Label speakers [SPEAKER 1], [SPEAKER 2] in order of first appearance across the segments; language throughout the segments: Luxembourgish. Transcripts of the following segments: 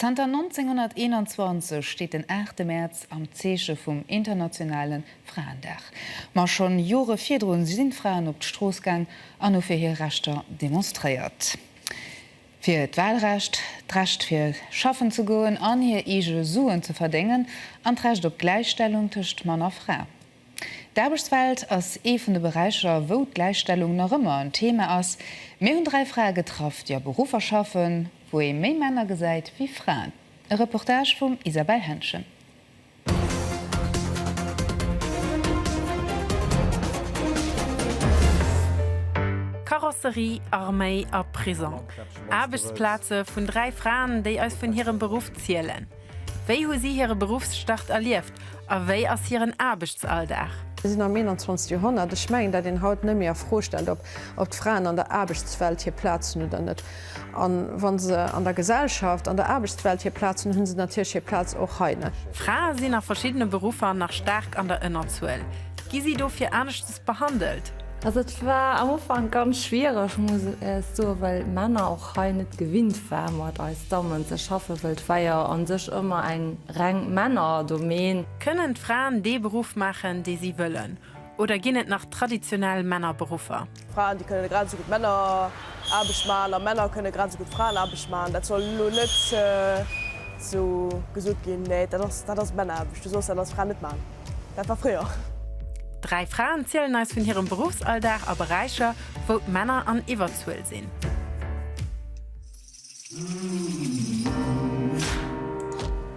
[SPEAKER 1] Zanter 1921 steet den 8 Mäerz am Zeeche vum internationale Fraendag. Ma schonn Jore virdrun sinn d'Fraen op d'Strooss gaang an hu fir hir Rechter demonstréiert. Fir d'Wahlrecht, d'Recht fir schaffen ze goen an hir eege Suen ze verdéngen an d'Recht op d'Gläichstellung tëscht Mann a Fra. D'Aarbechtswelt ass ee vun de Beräicher, wou d'Gläichstellung nach ëmmer en Thema ass. Mir hunn dräi Frae getraff, déi a Beruffer schaffen, wou ee méi Männer gesäit wéi Fraen. E Reportage vum Isabelle Henschen.
[SPEAKER 2] Karosserie, Arméi a Prisong, Aarbechtsplaze vun dräi Fraen, déi eis vun hirem Beruff zielen. Wéi hu si hire Beruffsstart erlieft a wéi ass hiren Aarbechtsalldag? Mir sinn am
[SPEAKER 3] 21. Joerhonnert. Ech mengen, dat een haut net méi a Fro stellt, ob d'Fraen an der Aarbechtswelt hir Plaz hunn oder net. A wa se an der Gesellschaft, an der Aarbechtswelt hir Plaz hunn, hu se natierlech hir Plaz och hei. Frae sinn a
[SPEAKER 2] verschiddene Beruffer nach staark an der Ënnerzuel. Gi si dofir aneschtes behandelt? Also et war
[SPEAKER 4] am Ufank ganz schwiereg muss ech soen, well Männer, hei net gewinnt war mat eis Dammen ze schaffen, wëll d'Weier an sech ëmmer eng reng Männerdomän. Kënnen d'Fraen
[SPEAKER 2] dee Beruff maachen dee si wëllen oder ginn et nach traditionell Männerberuffer? Fraen déi kënnen grad
[SPEAKER 5] esou gutt Männeraarbecht maachen a Männer kënnen grad esou gutt Fraenaarbecht maachen. Dat soll elo net esou gesot ginn, mä dat ass Männeraarbecht, du soss dat als Fra net maachen. Dat war fréier. Dräi
[SPEAKER 2] Fraen zielen eis vun hirem Beruffsalldag a Beräicher, wou d'Männer an Iwwerzuel sinn.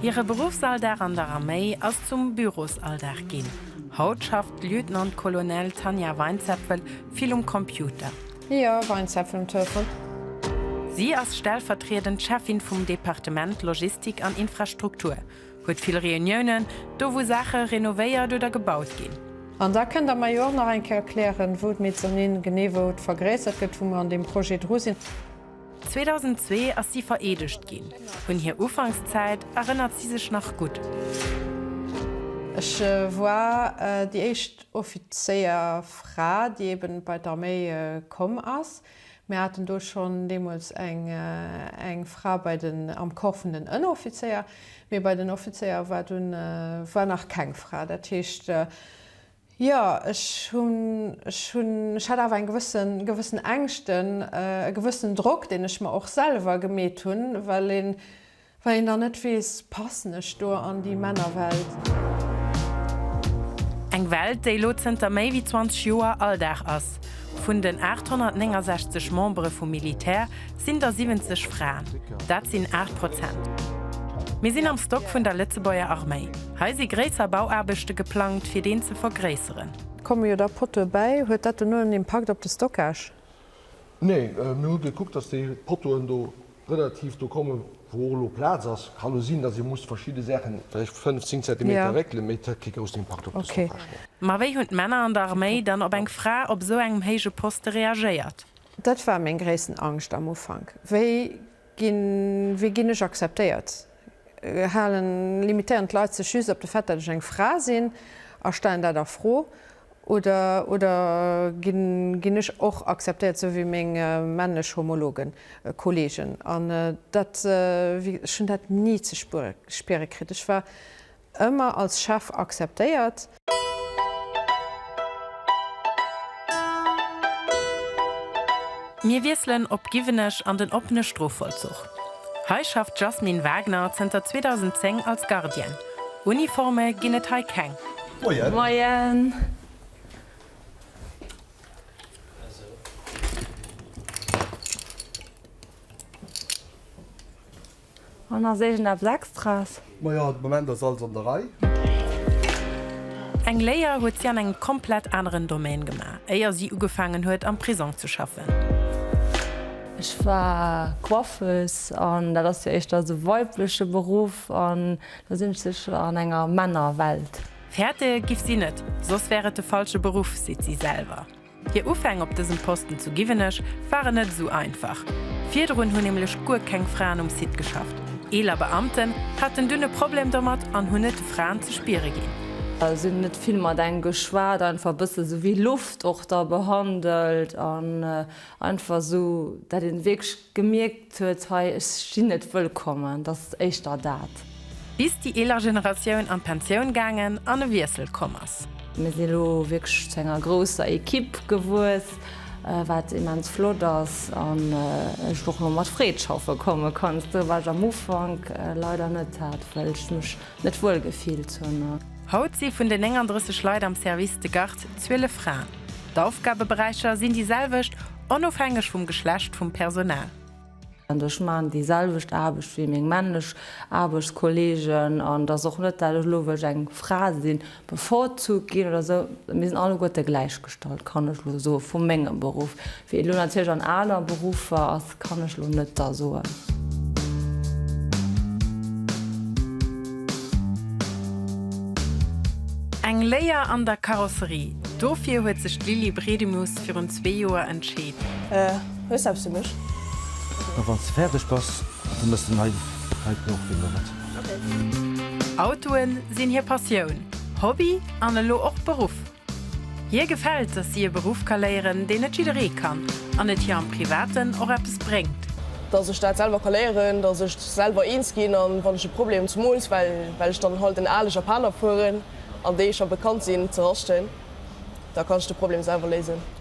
[SPEAKER 2] Hire Beruffsalldag an der Arméi ass zum Bürosalldag ginn. Haut schafft d'Lieutenant-Colonel Tanja Weinzepfel vill um Computer. Jo,
[SPEAKER 3] Weinzepfel um Telefon. Si
[SPEAKER 2] ass stellvertriedend Cheffin vum Departement Logistik an Infrastruktur. Huet vill Reuniounen, do wou Saache renovéiert oder gebaut ginn. An da kënnt Der mer
[SPEAKER 3] jo och nach eng Kéier erklären, wou d'Mezzanine genee wou et vergréissert gëtt, wou mer an deem Projet dru sinn. 2002
[SPEAKER 2] ass si vereedegt ginn. Un hir Ufankszäit erënnert si sech nach gutt.
[SPEAKER 3] Ech war déi éischt Offizéierfra, déi eeben bei d'Arméi komm ass. Mir haten do schonn deemools eng Fra bei den, am Corps vun den Ënneroffizéier, mee bei den Offizéier war dunn, war nach keng Fra. Dat heescht, jo, ech hunn, ech hunn, ech hat awer eng gewëssen, gewëssen Ängschten, e gewëssenen Drock, deen ech mer och selwer gemeet hunn, well een, Wa een dann net weess, passen ech do an déi Männerwelt?
[SPEAKER 2] Eng Welt, déi elo zënter méi wéi 20 Joer Alldag ass. Vun den 869 Membere vum Militär sinn der 70 Fraen. Dat sinn 8 Prozent. Mir sinn am Stock vun der Lëtzebuerger Arméi. Hei si gréisser Bauaarbechte geplangt, fir deen ze vergréisseren. Komme jo da
[SPEAKER 3] Pottoe bäi. Huet dat dono en Impakt op de Stockage?
[SPEAKER 6] Nee, mir hu gekuckt, datt déi Pottoen do relativ do kommen, wou och elo Plaz ass. Kann elo sinn, dass ee muss verschidde Saachen vläicht fënnf, zéng Zentimeter réckelen, mee et hätt kee groussen Impakt op dës Oprechnung. Ma wéi hunn d'Männer
[SPEAKER 2] an der Arméi dann op eng Fra op esou engem héije Poste reagéiert? Dat war meng
[SPEAKER 3] gréissten Angscht am Ufank. Wéi ginn, wéi ginn ech akzeptéiert? Halen, limitéieren d'Leit sech just op de Fait, datt ech eng Fra sinn a stellen dat a Fro? Oder, oder ginn ech och akzeptéiert, sou wéi meng männlech Homologen, Kollegen? An dat, wéi, ech hunn dat ni ze spiere kritt. Ech war ëmmer als Chef akzeptéiert.
[SPEAKER 2] Mir wiesselen op Giwenech an den oppene Strofvollzuch. Hei schafft d'Jasmine Wagner zënter 2010 als Gardienne. Uniforme ginn et hei keng. Moien!
[SPEAKER 4] Moien! An ass iergendeppes Extras? Majo, de Moment ass
[SPEAKER 6] alles an der Rei. Eng
[SPEAKER 2] Léier huet si an engem komplett aneren Domaine gemaach, éier si ugefaangen huet, am Prisong ze schaffen.
[SPEAKER 4] Ech war Coiffeuse an dat ass jo éischter e weibleche Beruff an Da sinn ech sécher an enger Männerwelt. Fäerte giff
[SPEAKER 2] si net, soss wär et de falsche Beruff, seet si selwer. Hir Ufäng op dësem Posten zu Giwenech waren net esou einfach. Virdrun hunn nämlech guer keng Fraen um Site geschafft. Eeler Beamten haten dunn e Problem domat an hunn et de Fraen ze spiere ginn. Si
[SPEAKER 4] hunn net vill mat engem geschwat, einfach e bësse sou wéi Loft och da behandelt an einfach sou, dat een wierklech Gemierkt huet, hei, ech sinn net wëllkommen, dat ass éischter dat. Bis déi eeler
[SPEAKER 2] Generatioun an d'Pensioun gaangen an e Wiessel komm ass. Mir si lo
[SPEAKER 4] wierklech zu enger grousser Ekipp gewuess, wat immens flott ass an ech och lo mat Freed schaffe komme kann. Dat war ech am Ufank leider net, dat wëll ech mech Net wuel gefillt hunn. Haut si vun den
[SPEAKER 2] 39 Leit am Service de garde 12 Fraen. D'Aufgabeberäicher sinn déi selwecht, onofhängeg vum Geschlecht vum Personal. Ech
[SPEAKER 4] maachen déi selwecht Aarbecht wéi meng männlech Aarbechtskolleegen an et ass och net, dat ech elo, well ech eng Fra sinn, bevorzugt ginn oder esou, mir sinn alleguerte gläichgestallt, kann ech elo soen, vu mengem Beruff. Wéi et elo natierlech an aner Beruffer ass, kann ech elo net da soen.
[SPEAKER 2] Eng Léier an der Karosserie, dofir huet sech d'Lily Bredimus virun zwee Joer entscheet. Hues
[SPEAKER 5] eppes fir mech? A wanns de
[SPEAKER 7] färdeg bass, da mëss de nei Reitbloch winneren. Autoe sinn
[SPEAKER 2] hir Passioun, Hobby an elo och Beruff. Hir gefält, dass si e Beruff ka léieren, deen net jidderee kann an et hir am Privaten och eppes bréngt. Dass ech dat
[SPEAKER 5] selwer ka léieren, dass ech selwer eens ginn an wann ech e Problem, zemools well ech dann halt en ale Japaner fueren an déi scho bekannt sinn, ze raschten, da kann ech de Problem selwer léisen.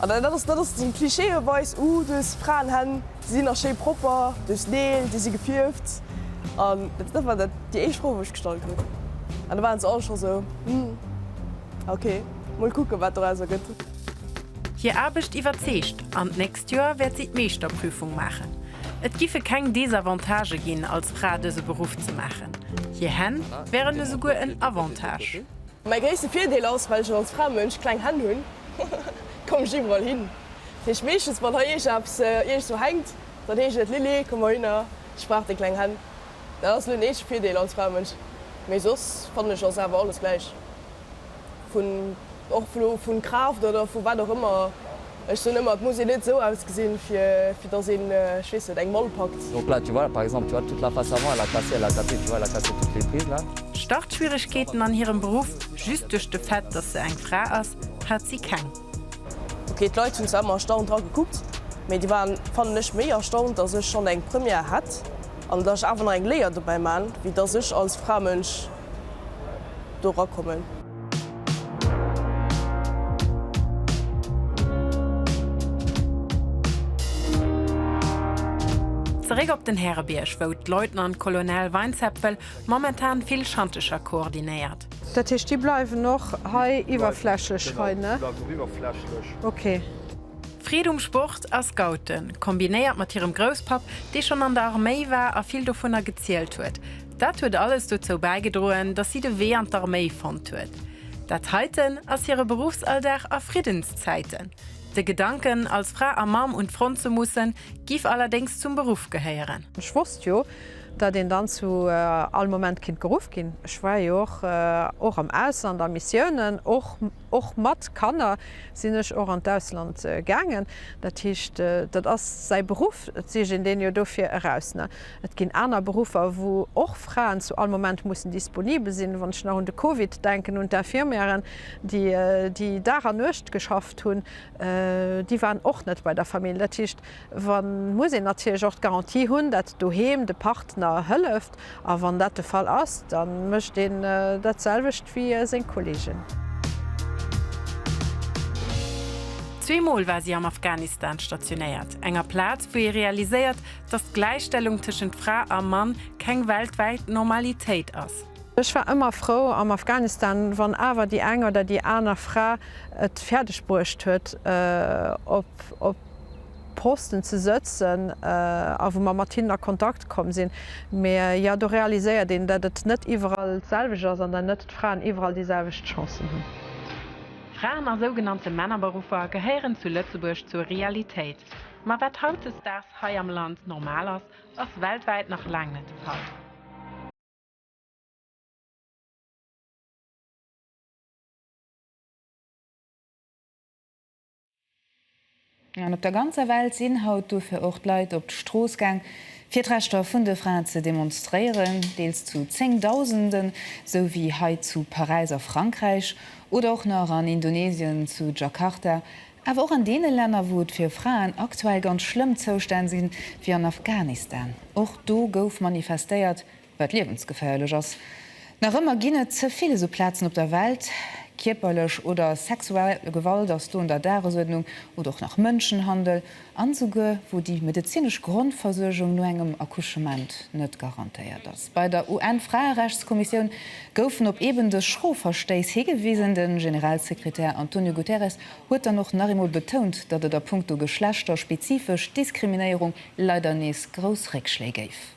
[SPEAKER 5] An dat ass, dat ass esou klischeeweis, Uh, dës Fraenhänn, déi sinn nach schéi propper duerch Neel, déi si gefierft. An dat war dat déi éischt Fro, wou ech gestallt hunn. An da waren se all scho esou, Hm, okay, mol kucken, wat doraus ergëtt. Hir
[SPEAKER 2] Aarbecht iwwerzeegt an d'nächst Joer wäert si d'Meeschterprüfung maachen. Et giffe keng Desavantagë ginn, als Fra dëse Beruff ze maachen. Hir Hänn wären esouguer en Avantage. Mäi gréisste
[SPEAKER 5] Virdeel ass, well ech als Framënsch kleng Hänn hunn, komm ech iwwerall hin. Dat heescht meeschtens, wann hei iergend eppes iergendwou hänkt, dann heescht et, Lilly, komm mol hinner, ech brauch deng kleng Hänn. Dat ass elo den eenzege Virdeel als Framënsch, mee soss fannen ech ass awer alles gläich, vun och vun Kraaft oder vu wat och ëmmer. Ech soen ëmmer, et muss een net esou ausgesinn, fir datt een, ech weess net, eng Mall packt. Donc là, tu vois, par exemple,
[SPEAKER 8] tu vois, toute la face avant, elle a cassé, elle a cassé, tu vois, elle a cassé toutes les prises là. Startschwieregkeeten
[SPEAKER 2] an hirem Beruff, just duerch de Fait, datt se eng Fra ass, hat si keng. Ok,
[SPEAKER 5] d'Leit hunn zwar ëmmer erstaunt dra gekuckt, mee déi waren, fannen ech, méi erstaunt, datt ech schonn eng Première hätt an datt ech awer nach eng Léier dobäi man, wéi datt ech als Fra-Mënsch do erakommen.
[SPEAKER 2] Zeréck op den Härebierg, wou d'Leutnant Colonel Weinzepfel momentan vill Schantecher koordinéiert. Dat heescht, déi
[SPEAKER 3] bleiwen och hei iwwerflächlech hei, ne? Déi bleiwen och iwwerflächlech. Ok. Freed um
[SPEAKER 2] Sport a Scouten, kombinéiert mat hirem Grousspapp, dee schonn an der Arméi war a vill dovunner gezielt huet, Dat huet alles dozou bäigedroen, datt si de Wee an d'Arméi fonnt huet. Dat heiten ass hire Beruffsalldag a Friddenszäiten. De Gedanken, als Fra a Mamm un d'Front ze mussen, giff allerdéngs zum Beruff gehéieren. Ech wosst jo,
[SPEAKER 3] datt een dann zu all Moment kinnt geruff ginn. Ech war jo och och am Ausland a Missiounen. Och och mat Kanner sinn ech och an d'Ausland gaangen. Dat heescht, dat ass säi Beruff, et sief een deen jo dofir eraus, ne? Et ginn aner Beruffer, wou och Fraen zu all Moment mussen disponibel sinn. Wann ech nach un de Covid denken, un d'Infirmièren, déi déi Dag an Nuecht geschafft hunn, déi waren och net bei der Famill. Dat heescht, wa muss een natierlech och d'Garantie hunn, datt doheem de Partner hëlleft. A wann dat de Fall ass, da mécht een dat selwecht wéi seng Kollegen.
[SPEAKER 2] Zweemol war si am Afghanistan stationéiert, enger Plaz, wou ee realiséiert, dass d'Gläichstellung tëschent Fra a Mann keng weltwäit Normalitéit ass. Ech war ëmmer frou
[SPEAKER 3] am Afghanistan, wann awer déi eng oder déi aner Fra et fäerdeg bruecht huet, op Posten ze sëtzen a wou mer mat hinnen a Kontakt komm sinn. Mä jo, do realiséiert een, datt et net iwwerall d'selwecht ass an datt net d'Fraen iwwerall déi selwecht Chancen hunn. Fraen
[SPEAKER 2] a sougenannte Männerberuffer gehéieren zu Lëtzebuerg zur Realitéit. Ma wat hautdesdaags hei am Land normal ass, ass weltwäit nach laang net de Fall.
[SPEAKER 1] An op der ganzer Welt sinn haut dofir och d'Leit op d'Strooss gaang, fir d'Rechter vun de Fraen ze demonstréieren, deels zu Zéngdausenden, sou wéi hei zu Paräis a Frankräich, oder och nach an Indonesien zu Jakarta, Awer och an deene Länner, wou et fir Fraen aktuell ganz schlëmm Zoustänn sinn, wéi an Afghanistan. Och do gouf manifestéiert, wat liewensgeféierlech ass. Nach ëmmer ginn et ze vill esou Plazen op der Welt. Kierperlech oder sexuell Gewalt ass do un der Dagesuerdnung, oder och nach Mënschenhandel. an souguer wou déi medezinesch Grondversuergung no engem Accouchement net garantéiert ass. Bei der UN-Fraerechtskommissioun goufen op eben dës schro Verstéiss higewisen. De Generalsekretär Antonio Guterres huet dann och nach eemol betount, datt et a puncto geschlechterspezifesch Diskriminéierung leider nees grouss Réckschléi géif.